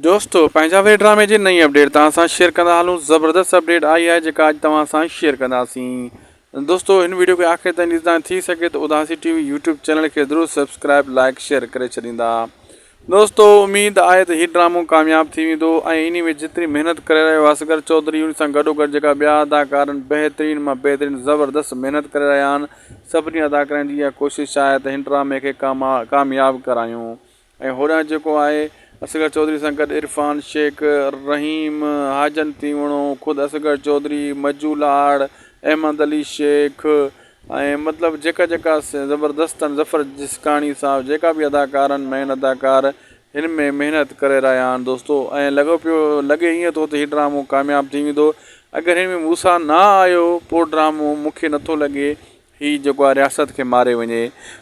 دوستو پنهنجا وير ڊرامي جي نئين اپڊيٽ توهان سان شيئر ڪندا هلون زبردست اپڊيٽ آئي آهي جيڪا اڄ توهان سان شيئر ڪنداسين دوستو هن ويڊيو کي آخر تائين ڏسندا ٿي سگهي ته Udasi T V YouTube channel کي ضرور سبسڪرائب لائڪ شيئر ڪري ڇڏيندا دوستو اميد آهي ته هي ڊرامو ڪامياب ٿي ويندو ۽ انهي ۾ جيتري محنت ڪري رهيو اصغر چوڌري ان سان گڏو گڏ جيڪا ٻيا اداڪارن بهترين مان بهترين زبردست محنت ڪري رهيا آهن سڀني اداڪارن جي اها ڪوشش آهي ته هن ڊرامي کي ڪامياب ڪرايون ۽ هوڏانهن جيڪو آهي اصغر چوڌري سان گڏ عرفان شيخ، رحيم حاجن تيوڻو، خود اصغر چوڌري، مجو لاڙ، احمد علي شيخ ۽ مطلب جيڪا جيڪا زبردست آهن ظفر جسڪاڻي صاحب جيڪا به اداڪار آهن مين اداڪار هن ۾ محنت ڪري رهيا آهن دوستو ۽ لڳو پيو لڳي ائين ٿو ته هي ڊرامو ڪامياب ٿي ويندو اگر هن ۾ موسيٰ نه آيو پوء ڊرامو مون کي نٿو لڳي هي جيڪو آ رياست کي ماري وڃي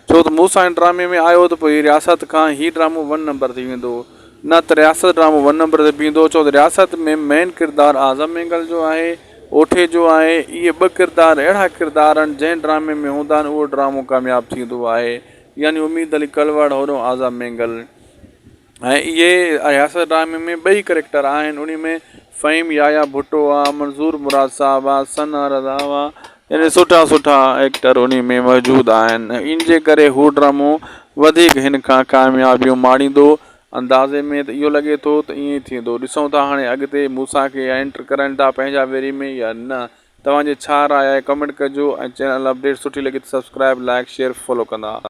ڇو ته مون سان هن ڊرامي ۾ آيو ته پوء هي رياست کان هي ڊرامو ون نمبر تي ويندو نه ته رياست ڊرامو ون نمبر تي بيهندو ڇو ته رياست ۾ مين ڪردار اعظم مينگل جو آهي اوٺي جو آهي اهي ٻه ڪردار اهڙا ڪردار آهن جنهن ڊرامي ۾ هوندا آهن اهو ڊرامو ڪامياب ٿيندو آهي يعني اميد علي ڪلواڙ هورو اعظم مينگل. ۽ اهي اياز ڊرامي ۾ ٻئي ڪريڪٽر آهن انهي ۾ فهيم يايا ڀٽو آ منظور مراد صاحب آ ثنا رضا آ يعني سٺا سٺا ايڪٽر انهي ۾ موجود آهن ان جي ڪري هو ڊرامو وڌيڪ هن کان ڪاميابيون ماڻيندو اندازي ۾ ته اهو لڳي ٿو ته ائين ئي ٿيندو ڏسون ٿا هاڻي اڳتي موسيٰ کي انٽر ڪرائين ٿا پنهنجا ويري ۾ يا نه توهان جي ڇا راء آهي ڪمينٽ ڪجو ۽ چينل اپڊيٽ سٺي لڳي ته سبسڪرائيب لائڪ شيئر فالو ڪندا